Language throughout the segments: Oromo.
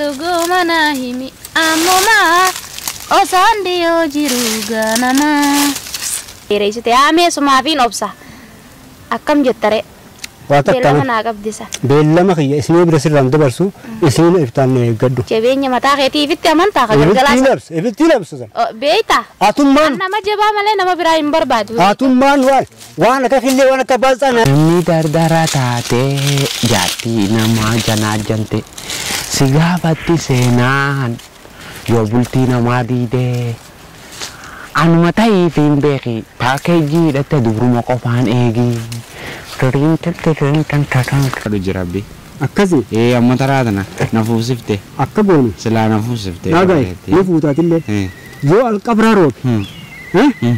Dhuguma naa himi ammuma osaan dhiyoo jiru ganama. dheereysite haa mee sumaafiin obsa akkam jetta ree Waa takka beellama naa qabde san. beellama kiyya isnii bira sirraa hin dabarsu isnii na iftaan na eeggadhu. jabeenya mataa keetii ifitti amantaa ka galgalaa Ifittii san labsa ifittii labsa san. O, beeyta Atummaan an nama jabaa malee nama biraa hin barbaadu atummaan waan Waan akka killee waan akka baasxaa na. Namnii dardaraa taatee jaartii namaa janaajjantee si gaafatti seenaan yoo bultii namaa diidee anuma ta'ii fiin beeki paakeejjii hidhatte dubruma qofaan eegii ririintattatatatatata. dhuji rabbi Akkasi. ee amma taraa tana na fuusifte Akka goonu. silaa na fuusifte Naa gahe. Ni fuuta atillee. Yoo alqabraa roobe. Hmm. Eh? Hmm.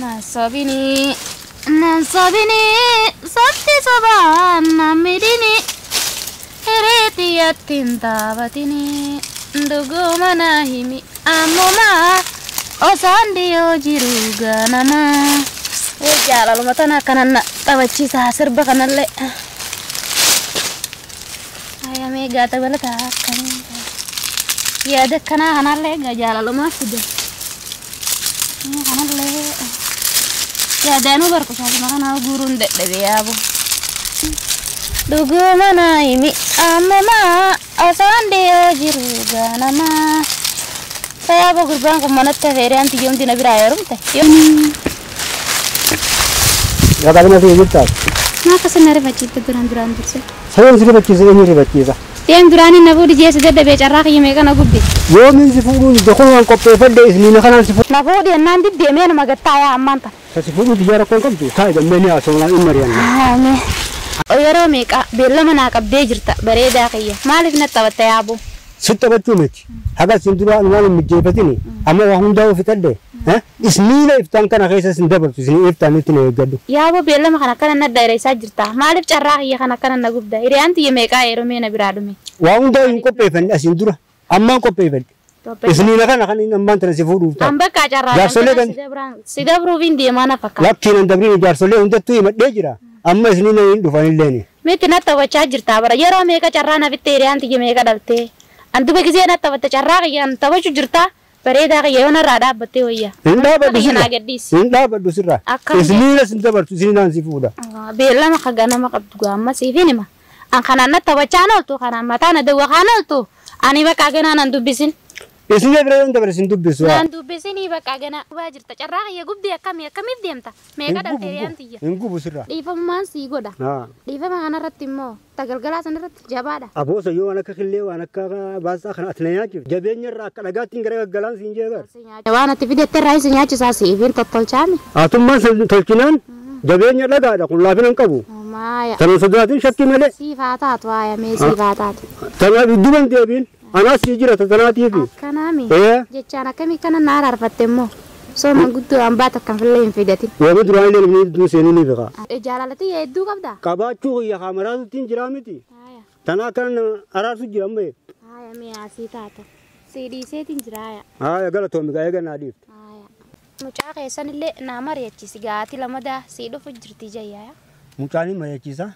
Naan sobini, naan sobini, sobdi sobaan naan midhini. Hiree tiyyatti hin taabatini, dhuguma naa himi ammuma. Osaan dhiyoo jiru ganama. Wee jaalaluma tana akkanan na taphachiisa sirba kanallee. Haya mee egaa dabalata akkamii yaada akkanaa kanallee egaa jaalalumaa fida. Mee kanallee yaadaanuu barkusaasuma kanaa guuruun dadhabe yaabo. Dhuguma naa himi ammamaa osoo dhiyoo jiru gaanamaa. Sayaaboo gurbaan kun manatti hafeeree anti yoomti na biraa heerumte. Gabaabina fi jirtaas. Maa akkasii na rifachiifte duraan duraan dursee. Sayoon si rifachiise eenyun rifachiisa? Deem duraaniin na fuudhi jeesi dadhabee carraa kiyya meeqa na gubde. Yoomin si fuudhuu didde kunoo an qopheeffadhe isniina kanaan si fuudha. Na fuudhi ennaan didde meenuma gad taayaa ammaan tana. Ka si fuudhuu didee rakkoon qabdu taa'i gammee ni haasofnaa in mari'anna. Yeroo meeqa beellama naa qabdee jirta bareedaa kiyya maaliif natti taphatta yaaboo. Sit taphachuu miti. Haga isin dura an waan hin mijjeefatini amma waa hundaa'uu fixadhe is miila iftaan kana keessas hin dabarsu isin iftaan itti na eeggadhu. Yaaboo beellama kana akkanan na dheeressaa jirtaa? Maaliif carraa kiyya kana akkanan na gubda? Hiriyaan tiyya meeqaa heerumee na biraa dhume. Waa hundaa'uu hin qopheeffanne asiin dura. Ammaan qopheeffadhe. Is miila kana kan inni ammaan tana si fuudhuuf taa'u. An bakka carraa kan Jaarsolee kanaan kan si dabraan si dabruufiin deemaa na fakkaata. Lakkii nan dabrini jaarsolee hundattuu himadhee jira. Amma isni na hin dhufan illeni. Mitti natti taphachaa jirtaa bara yeroo meeqa carraa na fittee hiriyaan tiyya meeqa dhabdee an duba gizee natti taphatta carraa kiyyaan taphachu jirtaa bareedaa kiyya yoo narraa dhaabbattee wayya Hin barumsa dhaabadhu kiyya sirra. naa gadhiisi Hin dhaabadhu sirra. Akkam jee- Isniinas hin dabartu isniinaan si fuudha. Waa, beellama ka ganama qabdu gaa amma siifin hima an kanaan natti taphachaan ooltu kanaan mataa na dawwa kaan ooltu ani bakka ganaa nan dubbisin Isnee bira yoon dabre sin dubbisu haa. Naan duubbesini baqaa ganaa gubaa jirta carraa kiyya gubdee akkami akkamiif deemta meeqa Hin dhalte gubu hiriyaan tiyya. hin gubu sirraa. Dhiifamumaan sii godha. Haa. Dhiifama kanarratti immoo ta galgalaa sanarratti jabaadha. Aboo sayyoo waan akka killee waan akka baasxaa kana ati na nyaachifte. Jabeenya irraa akka dhagaattiin gara gaggalaan siin jee bar. Si nyaacha waan ati fidetti irraa hin si nyaachisaa siif hin tottolchaami. Haatummaan san tolchinaan jabeenya dhagaadha kun laafina hin qabu. Maaya Sana sodaatiin shakkii malee. siif haa taatu haayamee siif haa taatu. Tanaaf idduman deebiin. Anaas sii jira tatanaatiifi. Akkanaami? Ee. Jechaan akkamii kana na araarfatte immoo? Osoo manguddoo hambaa takkan fillee hin fidatin. Wabi duraan illee namni hedduu seenuu ni beeka. Ee jaalala tiyya hedduu qabdaa? Qabaachuu kiyya haa maraatuttiin jiraa miti. Haaya. Tanaa akkana na araarsu jira amma eeg. Haaya mi'aa sii taata. Sii dhiiseetiin jiraaya. Haaya galatoomi gaa eega naa dhiifte. Haaya. Mucaa kee sanillee naa mari'achiisi gaa ati lamadaa sii dhufu jirtii jayyaa. Mucaa nin mari'achiisa,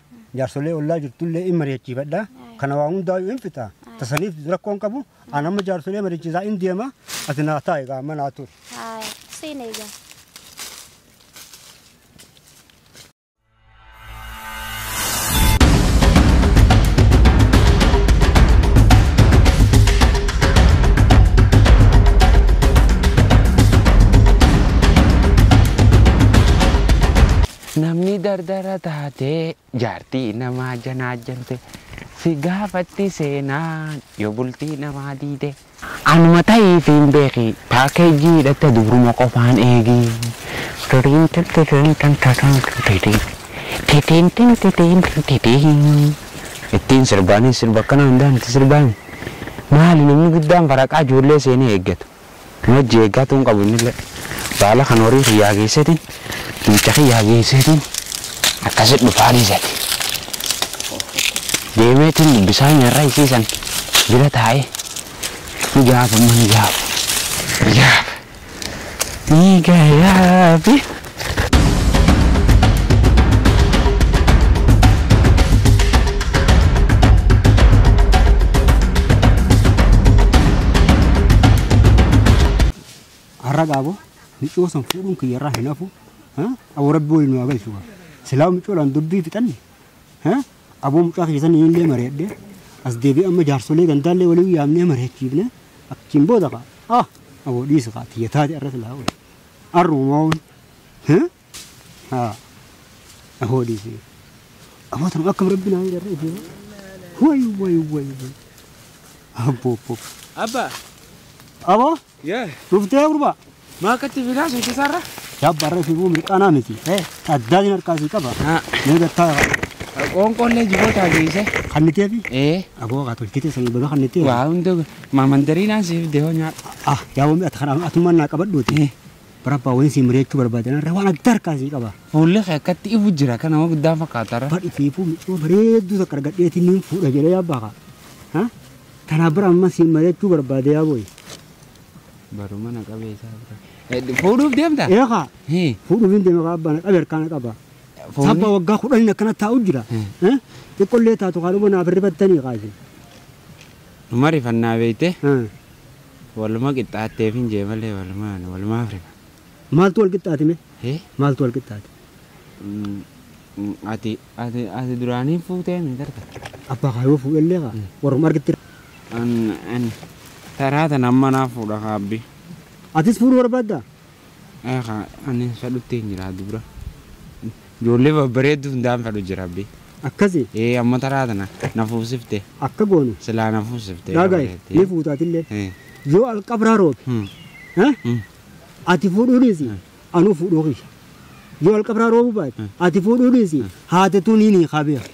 jaarsolee ollaa jirtullee in mari'achiifadha. Kana waa hundaayuu in fixa. Ta saniif rakkoo hin qabu. An amma jaarsolee mari'achiisaa in deema. Ati naa taa'i gaa amma naa turi. Haaya siin eegaa. Namni dardara taatee jaartii namaa janaajjante si gaafatti seenaan yoo bultii namaa diide. Anuma ta'i ifiin beeki package hidhatte dubruma qofaan eegi ittiin sirba anis sirba akkana hundaan itti sirbaa miti maali namni guddaan faraqaa ijoollee seenee eeggatu nu wajji eeggatuu hin qabu innillee baala kan horii kiyyaa keessati. Mucha kiyyaa geesseetiin akkasi dhufaanii jedhe. Deemeetiin bisaan nyarra isiisan bira taa'ee ni gaafa amma ni gaafa. Ni gaafa. Ni gaafi. Har'a gaa boo micoo san fuudhuun kiyya irraa hin hafu aboo rabbi waliin nu haa galchu gaa silaa micoodhaan dubbii fixanne aboo mucaa kiyya saniin illee mari'adhe as deebi'ee amma jaarsolee gandaallee waliin yaamnee mari'achiifne achiin booda kaa ah aboo dhiisi kaa tiyya taate irra silaa wali arruumaawun Ahoodii fi abboo tanuma akkam rabbi naa jedharra ijee wayi wayi wayi wayi abboo abboo Abba. aboo Yee. dhuftee gurbaa Maa akkatti fidaa suuta isaarra? jabba irra fi bu'u mirqaanaa miti addaa hin harkaasii qaba Haa. mee gattaa Qoonqoollee jiboota hageessee. kannitee fi Ee. aboo kaa tolchitee sanii baga kannitee Waa hunda maamandariinaan siif dehoo nyaadha. ah yaa wammi ati kanaa atummaan naa qabadhuuti Bara abbaa waliin sii mari'achuu barbaada narraa waan addaa harkaa sii qaba. Fuulli kee akkatti ifu jira akka nama guddaa fakkaata irra. Bar ifiifuu mucuma bareedduu takka argadheetiin niin fuudha jedhee abbaa kaa. Ha? Tanaaf bara amma siin mari'achuu barbaade yaa booyi. Baruma na qabee isaa bira. Fuudhuuf deemta? Ee kaa Hii. fuudhuuf hin deema kaa abbaa na qabe harkaa na qaba. Fuulli. Sabba waggaa kudhaniin akkana taa'u jira. Hmm. Eh? Xiqqollee taatu kaa dhuma naaf hirribattanii kaa isin. Numa rifannaa beeyte. Eh. Waluma qixxaatteefin jee malee waluma ani walumaaf rifa. Maaltu wal qixxaate mee? Hee? Maaltu wal qixxaate? Ati ati ati duraanii fuutee mee tarta? Abbaa kaayoo fuudhellee kaa warrum argitti. An an taraa tan amma naaf fuudha kaabbi. Atis fuudhuu barbaaddaa? Aya kaa anin fedhuttiin jiraa dubra ijoollee babbareedduu hundaan fedhu jira B. Akkasi? Ee amma taraa tana na fuusifte Akka goonu? silaa na fuusifte Yaa gaye bareetti. ni fuuta atillee. Ee. Yoo alqabraa roobe. Hmm. eh, Hmm. Ati fuudhuu dhiisi. Anuu fuudhuu kiyya. Yoo alqabraa roobuu baate. Ati fuudhuu dhiisi. Haati tun hin hiikaa beeku.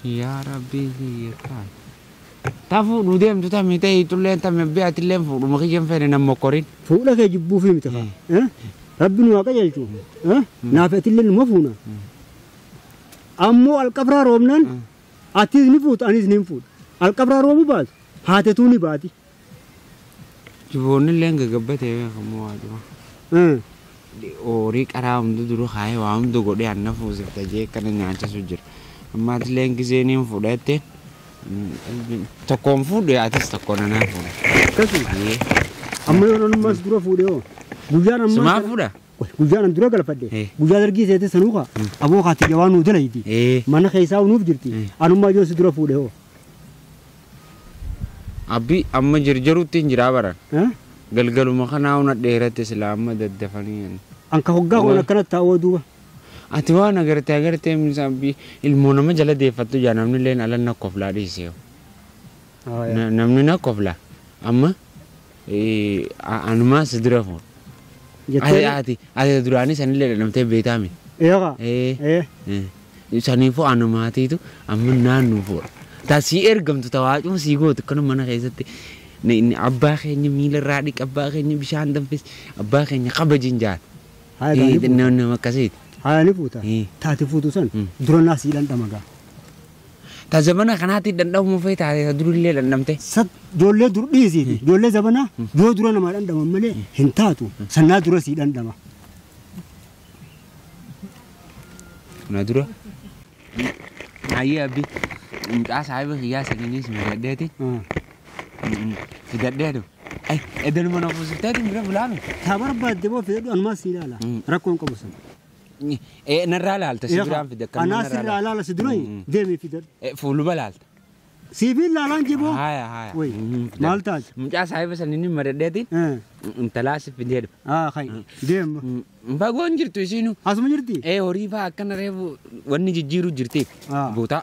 Yaa rabbii kiyya kaan. Ta fuudhu deemtu ta miite hiitulleen ta mebbi atilleen fuudhuma kiyyan fedhe nan mokkorin. Fuudha kee jibbuufii miti kaa. Eh? Rabbi nu haa qajeelchu. Eh? Naaf atillee numa fuuna. Ammoo alqabraa roobnaan atis ni fuuta anis ni fuudha. Alqabraa roobuu baatu haatetuu ni baati. Jiboonnilleen gagabbatee beeka immoo waajuma. Horii qaraa hunda dura kaa'ee waa hunda godhee anna fuusifta jee akkana nyaachisu jira. Ammaatilleen gisee niin fuudha jettee tokkoon fuudhe atis tokkoon anaa fuudha. Akkasuma. Ee, Amma yoo ammas dura fuudhee hoo. Guyyaan ammaa. Sumaa fuudha? Qoy, Guyyaan an dura galfadhe. Eh. Guyyaa dargii seete sanuu kaa. Mm. Aboo kaatti jawaa nuu dalayti. Ee. Mana keessaa nuuf jirti. Eh. Anummaa yoo si dura fuudhee hoo. Abbi amma jarjarutti hin jiraa baran. Eh? Galgaluma kanaa huna dheeratte silaa amma daddafanii ani. An ka hoggaa kuman Wal- akkanatti taa'uu duuba. Ati waan agartee agartee minsa abbi ilmoo nama jala deeffattu jaa namni illeen alan na koflaa dhiisee. Haya. Namni na koflaa amma Ee anumaa si dura fuudha. Jettee Ati ati ati duraanii sanillee dhadhamtee beektaa miti. Eeyoka. Ee. Ee. Eh, Saniifuu ana maatiitu amma naannoo fuudha. Ta sii ergamtu ta waacuma sii gootu akkanuma mana keessatti ni- ni abbaa keenya miila irraa dhiqi abbaa keenya bishaan danfisi abbaa keenya kabajiin jaal. Haa egaa ni Eh, fuuta. na- Nama akkasiiti. Haa ni fuuta. Eh. Taati fuutu san Mm. durannaa sii dhandhama gaa. Ta zamana kanaati dhandhamuu fee taate ta durillee dhandhamte. Sat joollee dur dhiisiiti. Joollee zabanaa yoo dura namaa dhandhaman malee hin taatu. Sannaa dura sii dhandhama. Na dura. Ayyee abbi. Mucaa saahiba kiyyaa saniinis fidadheeti. Ah. Fidadheetu. Ay, edaluma na fuusifteeti mira bulaami. Taa barbaadde boo fedhadhu anumaa sii ilaala. Mm. Rakkoo hin qabu sana. Ee narraa laalta si biraan fide akka Anaa narraa sirraa laalta. laala si durai Mm. deemee fidadhu. Ee, Fuuluba laalta. Siibiin laalaan jiboo. Haaya haaya. Wai Mm, fidadhu. maal taate? Mucaa saahiba san inni madadheeti Eh, intalaa si fidee dhufa. Haa kai deema. Mm, Fagoon jirtu isiinu. Asuma jirti? Ee horii faa akkana reefu wanni jijjiiruu jirti. Ah. Bootaa.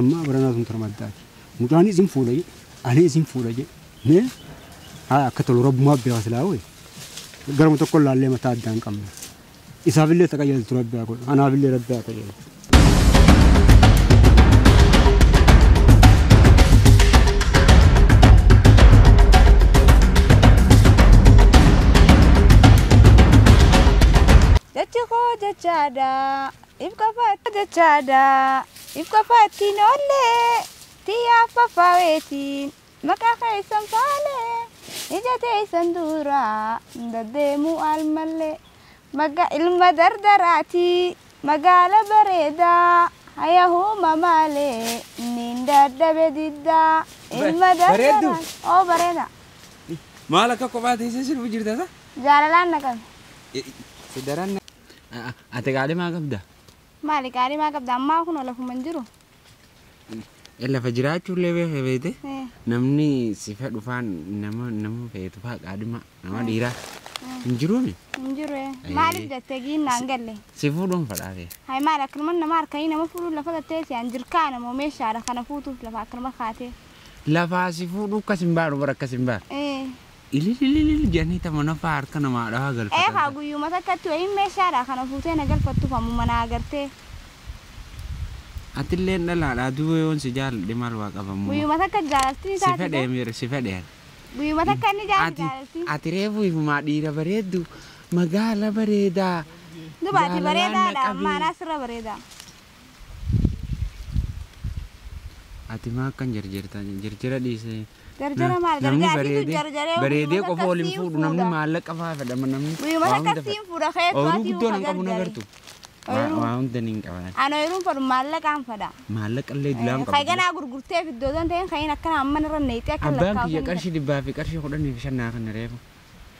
Ammaa baranaa sun tarma addaati. Mucaan isin fuudha jedhe. Ani isin fuudha jedhe. Mee haa akka tolu rabbumaa biraa silaa ho'i. Garuma tokko laallee mataa addaa hin qabne. Isaafillee ta qajeeltu rabbi haa godhu. Anaafillee rabbi haa qajeeltu. Jechi koo jechaadha. If qafaatti jechaadha if qafaattiin oollee tiyyaaf faffaaweetiin maqaa keessan faalee ija teessan dura daddeemu almallee maga ilma dardaraati magaala bareedaa hayahuuma maalee niin dadhabe diddaa ilma Bareedduu? dardaraati oo bareeda Maal akka kophaa teessee sirbu jirta sa? jaalalaan na qabe. Si daran Ati qaalimaa qabda? Maali qaalimaa qabda ammaa kunoo lafuman jiru. Lafa jiraachuullee beekee beekte Eh, namni si fedhu faan nama nama feetu faa qaadima nama dhiiraa hin jiruumi. Hin jiru eh. Eh. Maaliif jettee giinnaan galle? Si fuudhuun fadhaa kee. Hayi maal akkanuma nama harkanii nama fuudhuun lafa gattee si an jirkaana moo meeshaadha kana fuutuuf lafa akkanuma kaatee. Lafaa si fuudhuu akkas hin baanu bara akkas hin baanu. Eh, Ililililil janii tama nafaa harka namaa dhawaa galfatan Ee kaa san. guyyuma takkatti wayiin meeshaadhaa kana fuutee na galfattuf ammuma na agartee. Atilleen dhalaadhaa duuba yoon si jaaladhe maal waa qaba ammuma. Guyyuma takka jaalalti ni Si taati fedhe gaa. mir si fedhe ani. Guyyuma takka ni jaati Ati jaalalti. ati reefuu ifumaa dhiira bareeddu magaala bareedaa Duba ati jaalalaa na bareedaadha amma qabee. anaa sirra bareedaa. Ati maa akkan jarjarta jarjara dhiise. Jarjara maal Namni gargaartiitu bareedee jarjaree bareedee guyyuma qofa waliin takkasiin fuudhu namni fuudha. maallaqa fa'aa fedhama namni Guyyuma waa hunda takkasiin fedha. fuudha keetu Ooyiruu ati guddoon hin qabu na gargaari. gartu. Waa Ooyiruu. waa hunda ni hin qaban. Ani ooyiruun fedhu maallaqaan fedha. Maallaqa illee dilaa hin Kan qabu. ganaa gurgurtee fiddootan ta'een kan hin akkana amman irra neexee akka Abbaan kiyya lakkaa'usan qarshii dhibbaa fi qarshii kudhanii fi shan naa kenna reefu.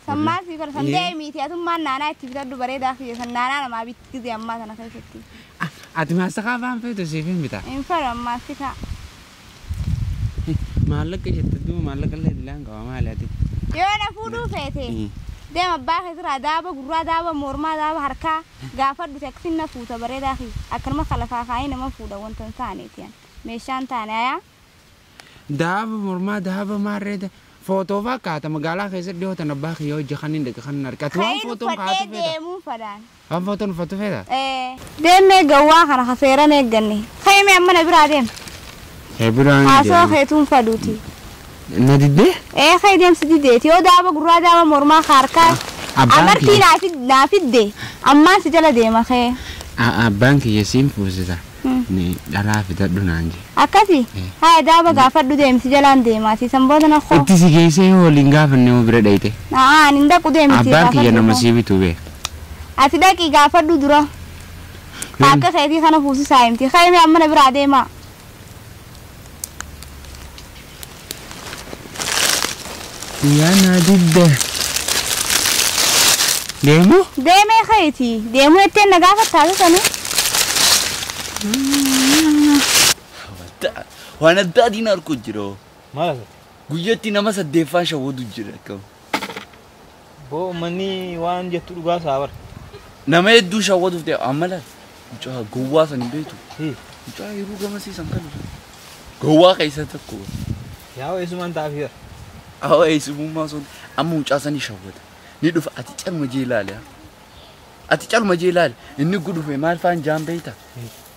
Sammaa sii godha san deemiiti atummaan naanaa itti bitadhu bareedaa kiyya san naanaa namaa bitti gizee ammaa sana keessatti. Ati maasakaa baan feetu siif hin bitaa. Hin fedhu an maastikaa. Maallaqa jette duuba maallaqa illee dilaan qaba maali ati. Yoo na fuudhuu feete deem abbaa keetirraa daaba gurraa daaba moormaa daaba harkaa gaafadhuti akkasin na fuuta bareedaa kiyya akkanuma ka lafaa kaa'ee nama fuudha wanta hin taaneeti an meeshaa hin taane ayaa. Dahaba mormaa, dahaba maarree, da, footoo fakkaata magaalaa keessatti dhihoo tan abbaa kiyya hojja kanin dhaqe kanin arge. Ati waan Kain footoon uffadhee kaa'atu feeta? deemuu fadhaan. Waan footoon uffatu feeta? Ee. Deemmee gawwaa kana ka seeran eegganne. Kaimee amma na biraa deem. Ee biraa hin Haasoo deemu. keetuun faduuti. Na diddee? Ee kai deemsi dideeti. Yoo daaba gurraa daaba mormaa ka harkaa. Abbaan Amartii kiyya- naa fid- naa fidde. Ammaan si jala deema kee. A- Abbaan kiyya siin fuusisa. ni dhalaa fidadhu naan jee. Akkasi? Ee. Haa edaa aba gaafadhu deemi si jalaan deemaa sii san booda na koo. Itti si geessee yoo wal hin gaafanne hoo bira dhayxee? A'aa ani hin dhaqu deemi sii Abbaan kiyya gaafadhu nama koo. sii bitu bee. Ati dhaqii gaafadhu dura. Ka Yoon- akka keetii kana fuusisaa himti. Ka himee amma na biraa deemaa. Yaa naa didde. Deemu? Deemee keeti. Deemuu jettee na gaafattaasa sana. Waan addaatiin harkoo jira. Maal asatti? Guyyatti nama saddeeffaan shawwadu jira akkam. Boo ummanni waan jettu dhugaa isaa bar. Nama hedduu shawwaduuf ta'e amma laal. Mucaa gowwaa san hin beektu. Hii. Mucaa yeroo gamasii san kalu san. Gowwaa keessa tokko. Yaa eessumaan taa'afi bar. Awa eessumummaa sun amma mucaa san ni shawwada. Ni dhufa ati caluma jee ilaali. haa. Ati caluma jee ilaali. Inni gudhufe maal faan jaan beekta?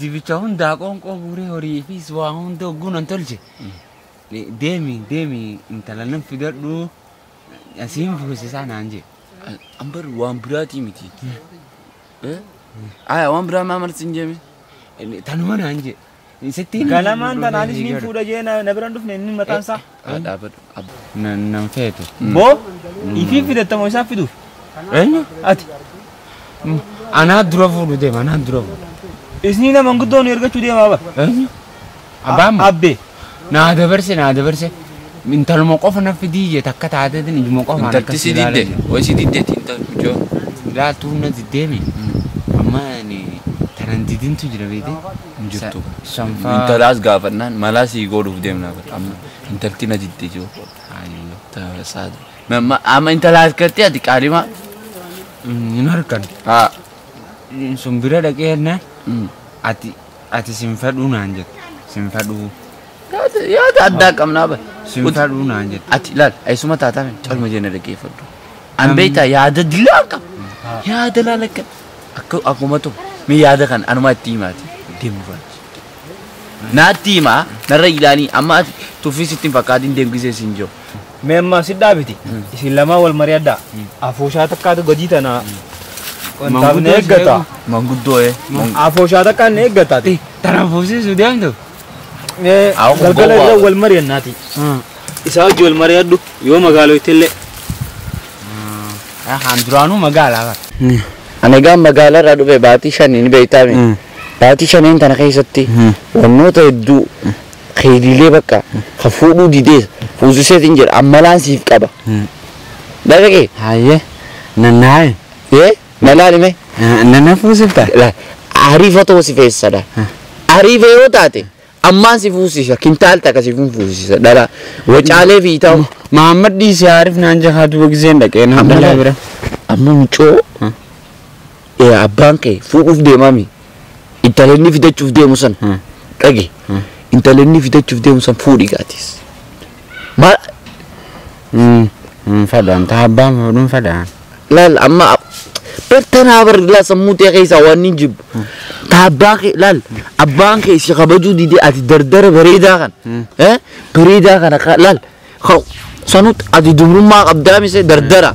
Dibicha hundaa qoonqoo guuree horii fi waa hunda ogguun an tolche. Deemi deemi intala nan fidadhu asiin fuusisaa naan jee. An bar waan biraatii miti. Eh? Aya waan biraa maa malsin jeeme? Tanuma naan jee. Sitti himi. Galamaan tanaanis ni fuudha jee na na biran dhufne inni mataan isaa. Haa dhaabadhu. Ab- na- Nan feetu. Boo ifiin fidatta moo isaan fiduuf? Eenyu? Ati Mm, Anaa dura fuudhu deema. Anaa dura fuudhu. isni nama manguddoo nu ergachuu deemaa bar. Eenyu? Abbaan moo? Abbee. Naa dabarse naa dabarse. Intaluma qofa na fidii jette akka taateetiin ijuma qofa waan Intalti akkas si ilaalan. didde. Way si diddeeti intalti mucoo. Ilaaltuu na diddeemi. Amma ani tanan didintu jira beekte. hin jirtu kaa. Shanfaa. Intalaas gaafannaan malaa sii goodhuuf deemna bar amma intalti na diddee jiru bar. Ayyoo. Ta- saa- ma- ma- Amma intala harkatti ati qaalimaa. Mm, Hin harkan. Haa. Sun bira dhaqee jennaan Mm. ati ati sin fedhuu naan jette. Sin fedhuu. Yaada yaada addaa qabnaa bara. Si utaa dhuu naan jette. Ati laal eessuma taataa miti calma jee na dhaggeeffadhu. An Am- beektaa yaada dilaa qaba. Yaada laal akka akka akkuma ta'u mee yaada kana anumaa itti himaati deemu bara. Naatti himaa narra ilaalii amma ati tuffii sitti hin fakkaatiin deemgisee siin jiru. Mee amma si dhaabiti. Isin lamaa wal mari'adhaa. Afooshaa takkaatu gadii tana. Wantaaf Manguddoo na si eeggata. eegu. Manguddoo ee. Afooshaa takkaan na eeggata. Tana fuusisu deemtu. Haa, kun Galgala gowwaa. irra wal mari'annaati. Isaa hojii wal mari'adhu yoo magaalootti illee. Haan duraanuu magaalaa bara. Ani egaa magaalaa irraa dhufe baatii shanii ni beektaami. Mm. Baatii shaneen tana keessatti Mm. wannoota hedduu keediilee bakka ka fuudhuu didee fuusiseetiin jedha ammalaan siif qaba. Mm. Dhaga'e? Haayee. Nannaa'e. Ee? Na ilaali mee. Na na fuusifta. La- Ariifa ta'uu si feessadha. Ariifa yoo taate ammaan si fuusisa kintaal takka si fuusisa dhala wacaalee fi ta'u. Mahammad dhiisi haarif naan jahaa duba giseen dhaqee na Amma dhalaa bira. amma mucoo Hmm. ee, abbaan kee fuudhuuf deemami intalenni fidachuuf deemu san Hmm. dhage intalenni fidachuuf deemu san fuudhi gaatis. Maal Fadhaan taa abbaan fuudhuun fadhaan. laal amma bar tanaa bar laal sammuu tee keessaa waan hin jibbu taa abbaa kee laal abbaan kee si kabajuu didee ati dardara bareedaa kan eh, bareedaa kana ka- laal ka- sanut ati dubrummaa qabdaa mise dardara